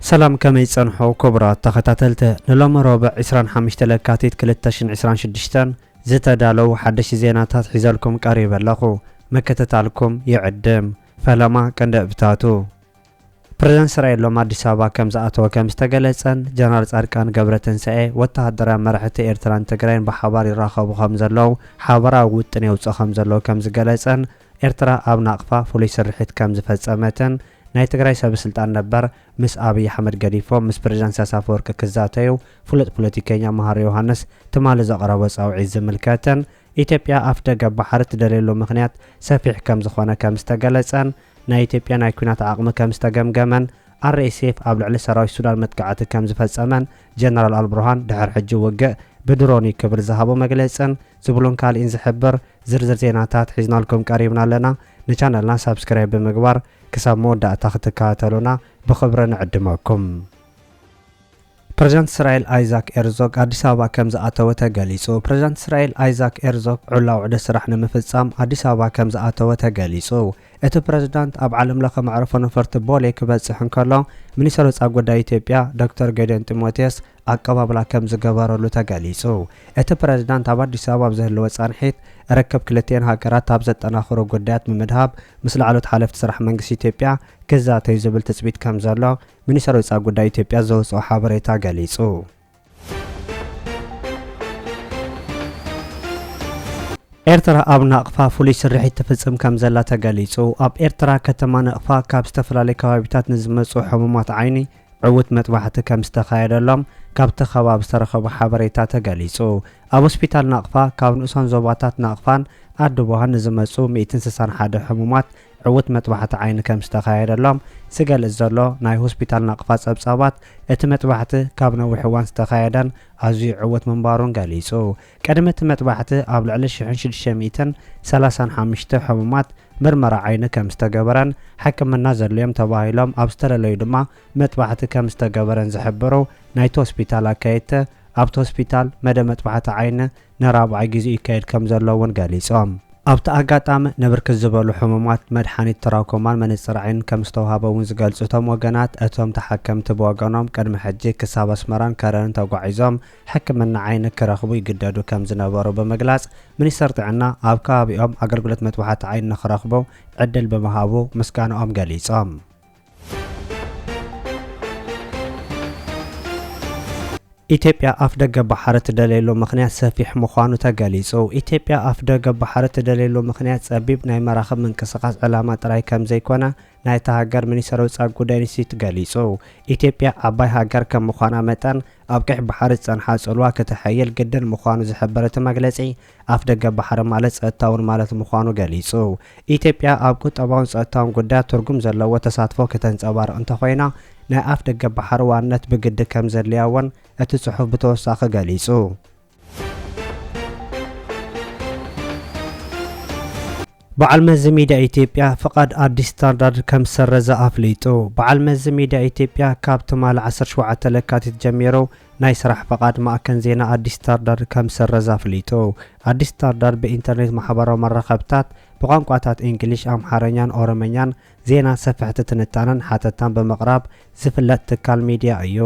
ሰላም ከመይ ጸንሑ ክቡራት ተኸታተልቲ ንሎሚ ሮብዕ 25 ለካቲት 2026 ዝተዳለው ሓደሽቲ ዜናታት ሒዘልኩም ቀሪበ ኣለኹ ምክትታልኩም ይዕድም ፈለማ ቀንዲ እብታቱ ፕረዚደንት እስራኤል ሎሚ ኣዲስ ኣበባ ከም ዝኣተወ ከም ዝተገለጸን ጀነራል ጻድቃን ገብረትንሳኤ ወተሃደራውያን መራሕቲ ኤርትራን ትግራይን ብሓባር ይራኸቡ ከም ዘለዉ ሓበራዊ ውጥን የውጽእ ከም ዘለዉ ከም ዝገለጸን ኤርትራ ኣብ ናቕፋ ፍሉይ ስርሒት ከም ዝፈጸመትን ናይ ትግራይ ሰበስልጣን ነበር ምስ ኣብይ ኣሕመድ ገዲፎም ምስ ፕረዚደንት ኢሳያስ ኣፈወርቂ ክዛተዩ ፍሉጥ ፖለቲከኛ መሃሪ ዮሃንስ ትማሊ ዘቕረቦ ጻውዒት ዝምልከትን ኢትዮጵያ ኣፍደገ ባሕሪ ትደልየሉ ምኽንያት ሰፊሕ ከም ዝኾነ ከም ዝተገለጸን ናይ ኢትዮጵያ ናይ ኲናት ዓቕሚ ከም ዝተገምገመን RSF ኣብ ልዕሊ ሰራዊት ሱዳን መጥቃዕቲ ከም ዝፈጸመን ጀነራል ኣልቡርሃን ድሕሪ ሕጂ ውግእ ብድሮን'ዩ ክብል ዝሃቦ መግለጽን ዝብሉን ካልእን ዝሕብር ዝርዝር ዜናታት ሒዝናልኩም ቀሪብና ኣለና። ንቻነልና ሳብስክራይብ ብምግባር ክሳብ መወዳእታ ክትከታተሉና ብኽብሪ ንዕድመኩም። ፕረዚዳንት እስራኤል ኣይዛክ ኤርዞግ ኣዲስ ኣበባ ከም ዝኣተወ ተገሊፁ። ፕረዚዳንት እስራኤል ኣይዛክ ኤርዞግ ዕላዊ ዑደት ስራሕ ንምፍፃም ኣዲስ ኣበባ ከም ዝኣተወ ተገሊፁ። እቲ ፕረዚዳንት ኣብ ዓለም ለኸ መዕርፎ ነፈርቲ ቦሌ ክበፅሕ እንከሎ ሚኒስተር ወፃኢ ጉዳይ ኢትዮጵያ ዶክተር ጌዲዮን ጢሞቴዎስ ኣቀባብላ ከም ዝገበረሉ ተገሊፁ። እቲ ፕረዚዳንት ኣብ ኣዲስ ኣበባ ኣብ ዝህልዎ ፃንሒት ርክብ ክልቲኤን ሃገራት ኣብ ዘጠናኽሩ ጉዳያት ብምድሃብ ምስ ላዕለዎት ሓለፍቲ ስራሕ መንግስቲ ኢትዮጵያ ክዛተዩ ዝብል ትፅቢት ከም ዘሎ ሚኒስተር ወጻኢ ጉዳይ ኢትዮጵያ ዘውጽኦ ሓበሬታ ገሊጹ። ኤርትራ ኣብ ናቕፋ ፍሉይ ስርሒት ትፍጽም ከም ዘላ ተገሊጹ። ኣብ ኤርትራ ከተማ ነቕፋ ካብ ዝተፈላለዩ ከባቢታት ንዝመጹ ሕሙማት ዓይኒ ዕውት መጥባሕቲ ከም ዝተኻየደሎም ካብቲ ከባቢ ዝተረኸበ ሓበሬታ ተገሊጹ። ኣብ ሆስፒታል ናቕፋ ካብ ንኡሳን ዞባታት ናቕፋን ኣድቦሃን ንዝመጹ ሚእትን ስሳን ሓደ ሕሙማት ዕዉት መጥባሕቲ ዓይኒ ከም ዝተኻየደሎም ዝገልጽ ዘሎ ናይ ሆስፒታል ናቕፋ ጸብጻባት፣ እቲ መጥባሕቲ ካብ ነዊሕ እዋን ዝተኻየደን ኣዝዩ ዕዉት ምንባሩን ገሊጹ። ቅድሚ እቲ መጥባሕቲ ኣብ ልዕሊ ሽሕን ሽዱሽተ ሚእትን ሰላሳን ሓሙሽተ ሕሙማት ምርመራ ዓይኒ ከም ዝተገበረን ሕክምና ዘድልዮም ተባሂሎም ኣብ ዝተለለዩ ድማ መጥባሕቲ ከም ዝተገበረን ዝሕብሩ ናይቲ ሆስፒታል ኣካየድቲ፣ ኣብቲ ሆስፒታል መደብ መጥባሕቲ ዓይኒ ንራብዓይ ግዜኡ ይካየድ ከምዘሎ እውን ገሊፆም። ኣብቲ ኣጋጣሚ ንብርክት ዝበሉ ሕሙማት መድሓኒት ትራኮማን መነፅር ዓይንን ከምዝተውሃበ እውን ዝገልፁ እቶም ወገናት፣ እቶም ተሓከምቲ ብወገኖም ቅድሚ ሕጂ ክሳብ ኣስመራን ከረንን ተጓዒዞም ሕክምና ዓይኒ ክረኽቡ ይግደዱ ከምዝነበሩ ብምግላፅ፣ ሚኒስቴር ጥዕና ኣብ ከባቢኦም ኣገልግሎት መጥባሕቲ ዓይኒ ንክረኽቡ ዕድል ብምሃቡ ምስጋንኦም ገሊፆም። ኢትዮጵያ ኣፍደገ ባሕሪ ትደልየሉ ምኽንያት ሰፊሕ ምዃኑ ተገሊጹ። ኢትዮጵያ ኣፍደገ ባሕሪ ትደልየሉ ምኽንያት ጸቢብ ናይ መራኽብ ምንቅስቓስ ዕላማ ጥራይ ከምዘይኮነ ናይታ ሃገር ሚኒስተር ወጻኢ ጉዳይ ኢንስቲትዩት ገሊጹ። ኢትዮጵያ ዓባይ ሃገር ከም ምዃና መጠን ኣብ ቀይሕ ባሕሪ ዝጸንሓ ጽልዋ ክተሐይል ግድን ምዃኑ ዝሕብር እቲ መግለጺ፣ ኣፍደገ ባሕሪ ማለት ጸጥታ'ውን ማለት ምዃኑ ገሊጹ። ኢትዮጵያ ኣብ ቁጠባውን ጸጥታውን ጉዳያት ትርጉም ዘለዎ ተሳትፎ ክተንጸባርቕ እንተኾይና ናይ ኣፍደገ ባሕሪ ዋንነት ብግዲ ከምዘድልያ'ውን እቲ ጽሑፍ ብተወሳኺ ገሊጹ። በዓል መዚ ሚድያ ኢትዮጵያ ፍቓድ ኣዲስ ስታርዳርድ ከምዝሰረዘ ኣፍሊጡ። በዓል መዚ ሚድያ ኢትዮጵያ ካብ ትማሊ ዓሰርተ ሸውዓተ ለካቲት ጀሚሩ ናይ ስራሕ ፍቓድ ማእከን ዜና ኣዲስ ስታርዳርድ ከምዝሰረዘ ኣፍሊጡ። ኣዲስ ስታርዳርድ ብኢንተርኔት ማሕበራዊ መራኸብታት ብቋንቋታት ኢንግሊሽ፣ ኣምሓርኛን ኦሮምኛን ዜናን ሰፈሕቲ ትንታነን ሓተታን ብምቕራብ ዝፍለጥ ትካል ሚድያ እዩ።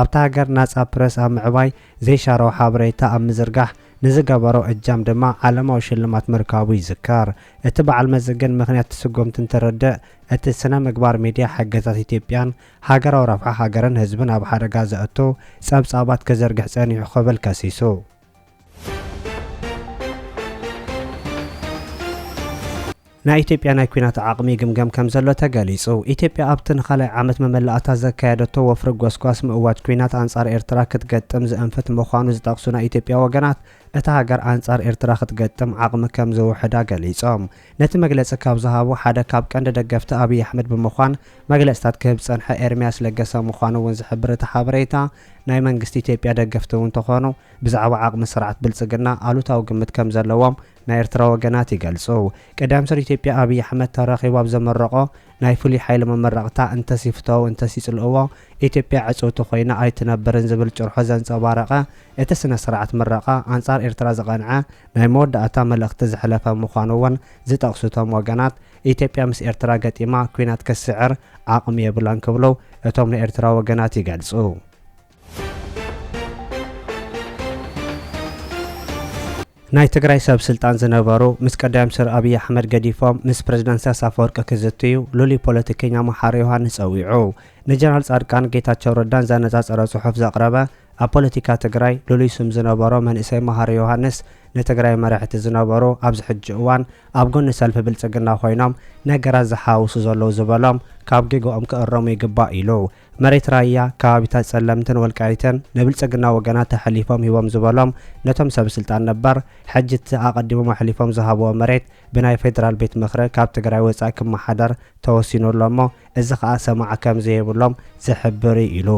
ኣብታ ሃገር ናጻ ፕረስ ኣብ ምዕባይ ዘይሻራዊ ሓበሬታ ኣብ ምዝርጋሕ ንዝገበሮ እጃም ድማ ዓለማዊ ሽልማት ምርካቡ ይዝከር። እቲ በዓል መዚ ግን ምኽንያት ስጎምቲ እንትርድእ እቲ ስነ ምግባር ሚድያ ሓገዛት ኢትዮጵያን ሃገራዊ ረብሓ ሃገርን ህዝብን ኣብ ሓደጋ ዘእቱ ፀብፃባት ክዝርግሕ ፀኒሑ ክብል ከሲሱ። ናይ ኢትዮጵያ ናይ ኲናት ዓቕሚ ይግምገም ከምዘሎ ተገሊጹ። ኢትዮጵያ ኣብ'ቲ ንኻልኣይ ዓመት መመላእታ ዘካየደቶ ወፍሪ ጎስጓስ ምእዋጅ ኲናት ኣንጻር ኤርትራ ክትገጥም ዘእንፍት ምዃኑ ዝጠቕሱ ናይ ኢትዮጵያ ወገናት፣ እታ ሃገር ኣንጻር ኤርትራ ክትገጥም ዓቕሚ ከም ዝውሕዳ ገሊጾም። ነቲ መግለጺ ካብ ዝሃቡ ሓደ ካብ ቀንዲ ደገፍቲ ኣብይ ኣሕመድ ብምዃን መግለጽታት ክህብ ዝጸንሐ ኤርምያስ ለገሰ ምዃኑ'ውን ዝሕብር እቲ ሓበሬታ፣ ናይ መንግስቲ ኢትዮጵያ ደገፍቲ'ውን ተኾኑ ብዛዕባ ዓቕሚ ስርዓት ብልጽግና ኣሉታዊ ግምት ከምዘለዎም ናይ ኤርትራ ወገናት ይገልጹ። ቀዳማይ ሚኒስተር ኢትዮጵያ ኣብይ ኣሕመድ ተራኺቡ ኣብ ዘመረቖ ናይ ፍሉይ ሓይሊ መመረቕታ እንተስ ይፍተዉ እንተስ ይጽልእዎ ኢትዮጵያ ዕጽውቲ ኮይና ኣይትነብርን ዝብል ጭርሖ ዘንጸባረቐ እቲ ስነ ስርዓት ምረቓ ኣንጻር ኤርትራ ዝቐንዐ ናይ መወዳእታ መልእኽቲ ዘሕለፈ ምዃኑ'ውን ዝጠቕሱ እቶም ወገናት ኢትዮጵያ ምስ ኤርትራ ገጢማ ኲናት ክትስዕር ዓቕሚ የብላን ክብሉ እቶም ናይ ኤርትራ ወገናት ይገልጹ። ናይ ትግራይ ሰብ ስልጣን ዝነበሩ ምስ ቀዳም ስር ኣብይ ኣሕመድ ገዲፎም ምስ ፕረዚደንት ኢሳያስ ኣፈወርቂ ክዝትዩ ልሉይ ፖለቲከኛ መሓሪ ዮሃንስ ጸዊዑ ንጀነራል ጻድቃን ጌታቸው ረዳን ዘነጻጸረ ጽሑፍ ዘቕረበ ኣብ ፖለቲካ ትግራይ ልሉይ ስም ዝነበሮ መንእሰይ መሃሪ ዮሃንስ ንትግራይ መራሕቲ ዝነበሩ ኣብዚ ሕጂ እዋን ኣብ ጎኒ ሰልፊ ብልጽግና ኮይኖም ነገራት ዝሓውሱ ዘለዉ ዝበሎም ካብ ጌግኦም ክእረሙ ይግባእ ኢሉ መሬት ራያ፣ ከባቢታት ፀለምትን ወልቃይትን ንብልፅግና ወገናት ኣሐሊፎም ሂቦም ዝበሎም ነቶም ሰብ ስልጣን ነበር፣ ሕጂ እቲ ኣቐዲሞም ኣሕሊፎም ዝሃብዎ መሬት ብናይ ፌደራል ቤት ምኽሪ ካብ ትግራይ ወፃኢ ክመሓደር ተወሲኑ ኣሎ እሞ እዚ ከዓ ሰማዒ ከምዘይብሎም ዝሕብር እዩ ኢሉ።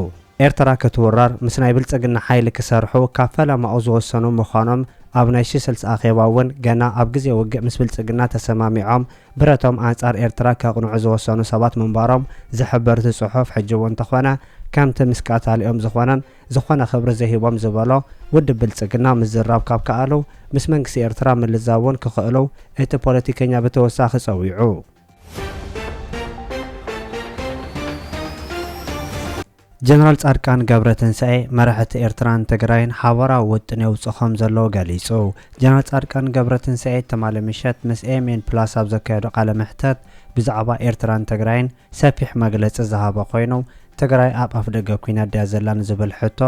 ኤርትራ ክትውረር ምስ ናይ ብልፅግና ሓይሊ ክሰርሑ ካብ ፈለማኡ ዝወሰኑ ምዃኖም ኣብ ናይ ሽስልስ ኣኼባ እውን ገና ኣብ ግዜ ውግእ ምስ ብልፅግና ተሰማሚዖም ብረቶም ኣንጻር ኤርትራ ከቕንዑ ዝወሰኑ ሰባት ምንባሮም ዝሕብር እቲ ጽሑፍ፣ ሕጂ'ውን እንተኾነ ከምቲ ምስ ቀታሊኦም ዝኾነን ዝኾነ ክብሪ ዘይህቦም ዝበሎ ውድብ ብልጽግና ምዝራብ ካብ ከኣሉ ምስ መንግስቲ ኤርትራ ምልዛብ'ውን ክኽእሉ እቲ ፖለቲከኛ ብተወሳኺ ጸዊዑ። ጀነራል ፃድቃን ገብረትንሳኤ መራሒ እቲ ኤርትራን ትግራይን ሓባራዊ ውጥን የውፅእ ከምዘሎ ገሊፁ። ጀነራል ፃድቃን ገብረትንሳኤ ትማሊ ምሸት ምስ ኤኤምኤን ፕላስ ኣብ ዘካየዶ ቃለ መሕተት ብዛዕባ ኤርትራን ትግራይን ሰፊሕ መግለፂ ዝሃበ ኮይኑ ትግራይ ኣብ ኣፍደገ ኲናት ድያ ዘላ ንዝብል ሕቶ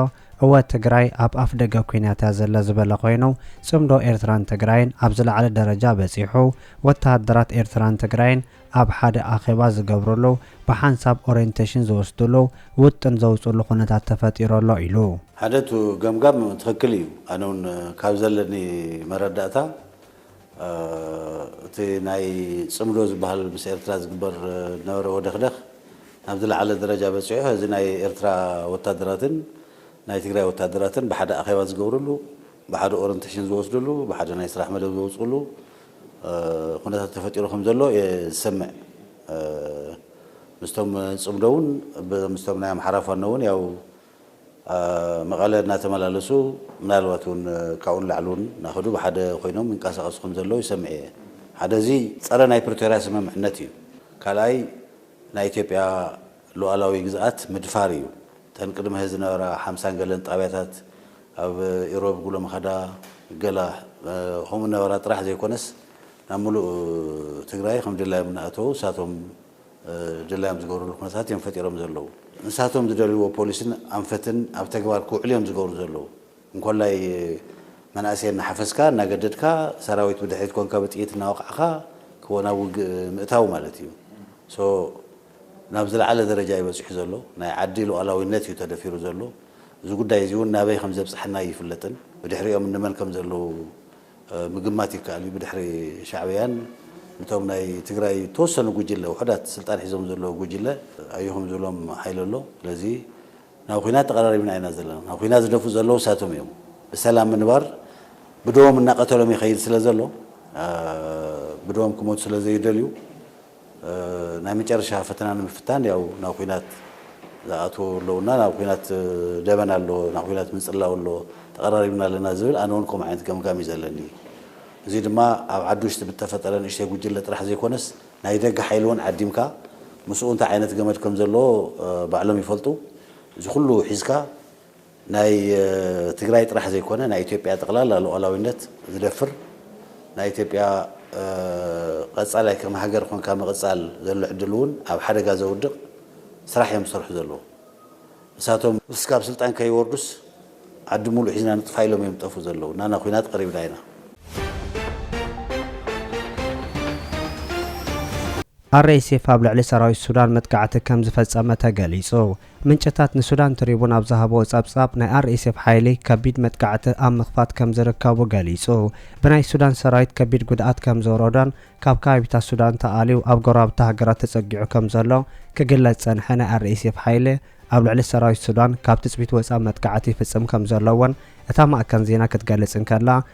እወ ትግራይ ኣብ ኣፍደገ ኲናት እያ ዘላ ዝበለ ኮይኑ ፅምዶ ኤርትራን ትግራይን ኣብ ዝለዓለ ደረጃ በፂሑ ወተሃደራት ኤርትራን ትግራይን ኣብ ሓደ ኣኼባ ዝገብሩሉ፣ ብሓንሳብ ኦሬንቴሽን ዝወስዱሉ፣ ውጥን ዘውፅእሉ ኩነታት ተፈጢሩ ኣሎ ኢሉ። ሓደ እቱ ገምጋም ትኽክል እዩ ኣነ ውን ካብ ዘለኒ መረዳእታ እቲ ናይ ፅምዶ ዝባሃል ምስ ኤርትራ ዝግበር ዝነበረ ወደኽደኽ ናብ ዝላዓለ ደረጃ በፂሑ ሀዚ ናይ ኤርትራ ወታደራትን ናይ ትግራይ ወታደራትን ብሓደ ኣኼባ ዝገብርሉ ብሓደ ኦረንቴሽን ዝወስድሉ ብሓደ ናይ ስራሕ መደብ ዘውፅእሉ ኩነታት ተፈጢሩ ከም ዘሎ እየ ዝሰምዕ። ምስቶም ጽምዶ እውን ምስቶም ናይ ኣምሓራ ፋኖ እውን ያው መቐለ እናተመላለሱ ምናልባት እውን ካብኡ ንላዕሊ እውን እናኸዱ ብሓደ ኮይኖም ይንቀሳቐሱ ከም ዘለዉ ይሰምዕ እየ። ሓደ እዚ ጸረ ናይ ፕሪቶርያ ስምምዕነት እዩ። ካልኣይ ናይ ኢትዮጵያ ሉኣላዊ ግዝኣት ምድፋር እዩ። እተን ቅድሚ ሕዚ ዝነበራ ሓምሳን ገለን ጣብያታት ኣብ ኢሮብ፣ ጉሎምኻዳ፣ ገላ ከምኡ ነበራ ጥራሕ ዘይኮነስ ናብ ምሉእ ትግራይ ከም ድላዮም እናኣተዉ ንሳቶም ድላዮም ዝገብርሉ ኩነታት እዮም ፈጢሮም ዘለዉ። ንሳቶም ዝደልይዎ ፖሊሲን ኣንፈትን ኣብ ተግባር ክውዕል እዮም ዝገብሩ ዘለዉ። እንኮላይ መናእሰይ እናሓፈስካ እናገደድካ ሰራዊት ብድሕሪት ኮንካ ብጥይት እናወቓዕኻ ክወ ናብ ውግእ ምእታው ማለት እዩ። so ናብ ዝለዓለ ደረጃ እዩ በፂሑ ዘሎ። ናይ ዓዲ ሉኣላዊነት እዩ ተደፊሩ ዘሎ። እዚ ጉዳይ እዚ እውን ናበይ ከም ዘብጽሓና ኣይፍለጥን። ብድሕሪኦም እንመን ከም ዘለዉ ምግማት ይከኣል እዩ። ብድሕሪ ሻዕብያን እቶም ናይ ትግራይ እተወሰኑ ጉጅለ ውሑዳት ስልጣን ሒዞም ዘለዉ ጉጅለ ኣዩ ከም ዝብሎም ሓይሊ ኣሎ። ስለዚ ናብ ኹናት ተቐራሪብና ኢና ዘለና። ናብ ኹናት ዝደፍኡ ዘለዉ እሳቶም እዮም። ብሰላም ምንባር ብደዎም እናቐተሎም ይኸይድ ስለ ዘሎ ብደዎም ክሞቱ ስለ ዘይደልዩ ናይ መጨረሻ ፈተና ንምፍታን ያው ናብ ኹናት ዝኣትዎ ኣለውና ናብ ኹናት ደበና ኣሎ ናብ ኹናት ምንጽላው ኣሎ ተቐራሪብና ኣለና ዝብል ኣነ ውን ከምኡ ዓይነት ገምጋም እዩ ዘለኒ እዚ ድማ ኣብ ዓዲ ውሽጢ ብተፈጠረ ንእሽተይ ጉጅለ ጥራሕ ዘይኮነስ ናይ ደገ ሓይሊ ውን ዓዲምካ ምስኡ እንታይ ዓይነት ገመድ ከም ዘለዎ ባዕሎም ይፈልጡ እዚ ኩሉ ሒዝካ ናይ ትግራይ ጥራሕ ዘይኮነ ናይ ኢትዮጵያ ጠቕላላ ሉኣላዊነት ዝደፍር ናይ ኢትዮጵያ ቐፃላይ ከም ሃገር ኾንካ ምቕፃል ዘሎ ዕድል እውን ኣብ ሓደጋ ዘውድቕ ስራሕ እዮም ዝሰርሑ ዘለዉ እሳቶም እስካብ ስልጣን ከይወርዱስ ዓዲ ሙሉእ ሒዝና ንጥፋእ ኢሎም እዮም ዝጠፍኡ ዘለዉ ናና ኹናት ቐሪብና ኢና። RSF ኣብ ልዕሊ ሰራዊት ሱዳን መጥቃዕቲ ከምዝፈፀመ ተገሊፁ። ምንጭታት ንሱዳን ትሪቡን ኣብ ዝሃብዎ ጸብጻብ፣ ናይ ኣርኤስኤፍ ሓይሊ ከቢድ መጥቃዕቲ ኣብ ምኽፋት ከም ዝርከቡ ገሊጹ። ብናይ ሱዳን ሰራዊት ከቢድ ጉድኣት ከም ዝወረዶን ካብ ከባቢታት ሱዳን ተኣልዩ ኣብ ጎረባብቲ ሃገራት ተጸጊዑ ከም ዘሎ ክግለጽ ዝጸንሐ ናይ ኣርኤስኤፍ ሓይሊ፣ ኣብ ልዕሊ ሰራዊት ሱዳን ካብ ትጽቢት ወጻኢ መጥቃዕቲ ይፍጽም ከም ዘሎ'ውን እታ ማእከን ዜና ክትገልጽ እንከላ፣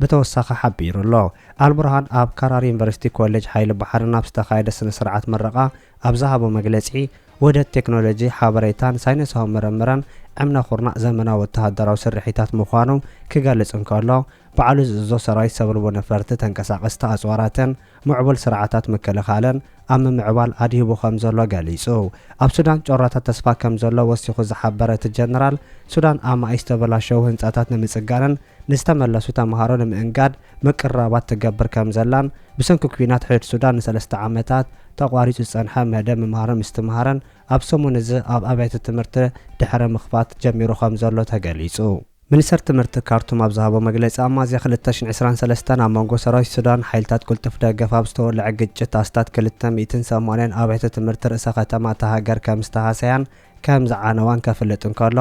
ብተወሳኺ ሓቢሩ ኣሎ። ኣልቡርሃን ኣብ ካራር ዩኒቨርሲቲ ኮሌጅ ሓይሊ ባሕርን ኣብ ዝተኻየደ ስነ ስርዓት ምረቓ ኣብ ዝሃቦ መግለጺ፣ ውህደት ቴክኖሎጂ ሓበሬታን ሳይነሳዊ ምርምርን ዕምነ ኩርናዕ ዘመናዊ ወተሃደራዊ ስርሒታት ምዃኑ ክገልጽ እንከሎ፣ ባዕሉ ዝእዝዞ ሰራዊት ሰብልቦ ነፈርቲ ተንቀሳቐስቲ ኣጽዋራትን ምዕቡል ስርዓታት ምክልኻልን ኣብ ምምዕባል ኣድሂቡ ከምዘሎ ገሊጹ። ኣብ ሱዳን ጮራታት ተስፋ ከምዘሎ ወሲኹ ዝሓበረ እቲ ጀነራል፣ ሱዳን ኣማኢት ዝተበላሸዉ ህንጻታት ንምጽጋንን ንዝተመለሱ ተመሃሮ ንምእንጋድ ምቅርራባት ትገብር ከምዘላን ብሰንኪ ኲናት ሕድ ሱዳን ንሰለስተ ዓመታት ተቋሪጹ ዝጸንሐ መደብ ምምሃርን ምስትምሃርን ኣብ ሰሙን'ዚ ኣብ ኣብያተ ትምህርቲ ድሕሪ ምኽፋት ጀሚሩ ከምዘሎ ተገሊጹ። ሚኒስተር ትምህርቲ ካርቱም ኣብ ዝሃቦ መግለጺ፣ ኣብ ሚያዝያ ክልተ ሽሕን ዕስራን ሰለስተን ኣብ መንጎ ሰራዊት ሱዳንን ሓይልታት ቅልጡፍ ደገፍ ኣብ ዝተወልዐ ግጭት ኣስታት ክልተ ሚእትን ሰማንያን ኣብያተ ትምህርቲ ርእሰ ከተማ እታ ሃገር ከም ዝተሃሰያን ከም ዝዓነዋን ከፍልጥ እንከሎ፣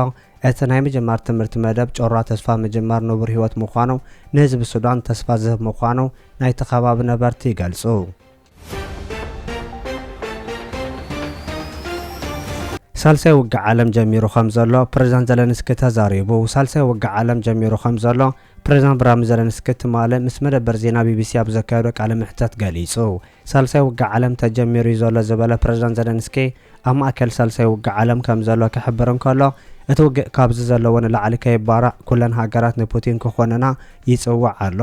እቲ ናይ ምጅማር ትምህርቲ መደብ ጮራ ተስፋ ምጅማር ንቡር ህይወት ምዃኑ ንህዝቢ ሱዳን ተስፋ ዝህብ ምዃኑ ናይቲ ከባቢ ነበርቲ ይገልጹ። ሳልሳይ ውግእ ዓለም ጀሚሩ ከም ዘሎ ፕሬዝዳንት ዘለንስኪ ተዛሪቡ ሳልሳይ ውግእ ዓለም ጀሚሩ ከም ዘሎ ፕሬዝዳንት ብራሚ ዘለንስኪ ትማሊ ምስ መደበር ዜና ቢቢሲ ኣብ ዘካየዶ ቃለ መሕተት ገሊጹ። ሳልሳይ ውግእ ዓለም ተጀሚሩ እዩ ዘሎ ዝበለ ፕሬዝዳንት ዘለንስኪ፣ ኣብ ማእከል ሳልሳይ ውግእ ዓለም ከም ዘሎ ክሕብር እንከሎ፣ እቲ ውግእ ካብዚ ዘለዎ ንላዕሊ ከይባራዕ ኩለን ሃገራት ንፑቲን ክኾንና ይጽውዕ ኣሎ።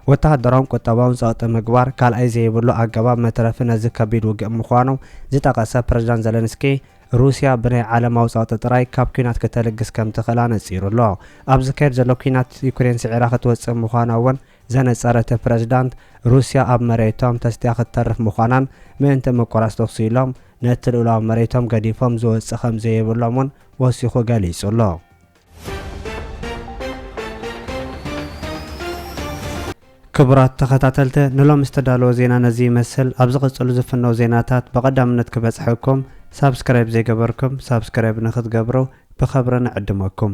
ወተሃደራውን ቁጠባውን ጸቕጢ ምግባር ካልኣይ ዘይብሉ ኣገባብ መትረፊ ነዚ ከቢድ ውግእ ምዃኑ ዝጠቐሰ ፕረዚዳንት ዘለንስኪ፣ ሩስያ ብናይ ዓለማዊ ጸቕጢ ጥራይ ካብ ኲናት ክተልግስ ከም ትኽእል ኣነጺሩ ኣሎ። ኣብ ዝካየድ ዘሎ ኲናት ዩክሬን ስዒራ ክትወጽእ ምዃና'ውን ዘነጸረቲ ፕረዚዳንት፣ ሩስያ ኣብ መሬቶም ተስትያ ክትተርፍ ምዃናን ምእንቲ ምቁራጽ ተኹሲ ኢሎም ነቲ ልኡላዊ መሬቶም ገዲፎም ዝወጽእ ከም ዘይብሎም እውን ወሲኹ ገሊጹ ኣሎ። ክቡራት ተኸታተልቲ ንሎሚ ዝተዳለወ ዜና ነዚ ይመስል። ኣብ ዝቕጽሉ ዝፍነው ዜናታት ብቐዳምነት ክበጽሐኩም ሳብስክራይብ ዘይገበርኩም ሳብስክራይብ ንክትገብሩ ብኸብሪ ንዕድመኩም።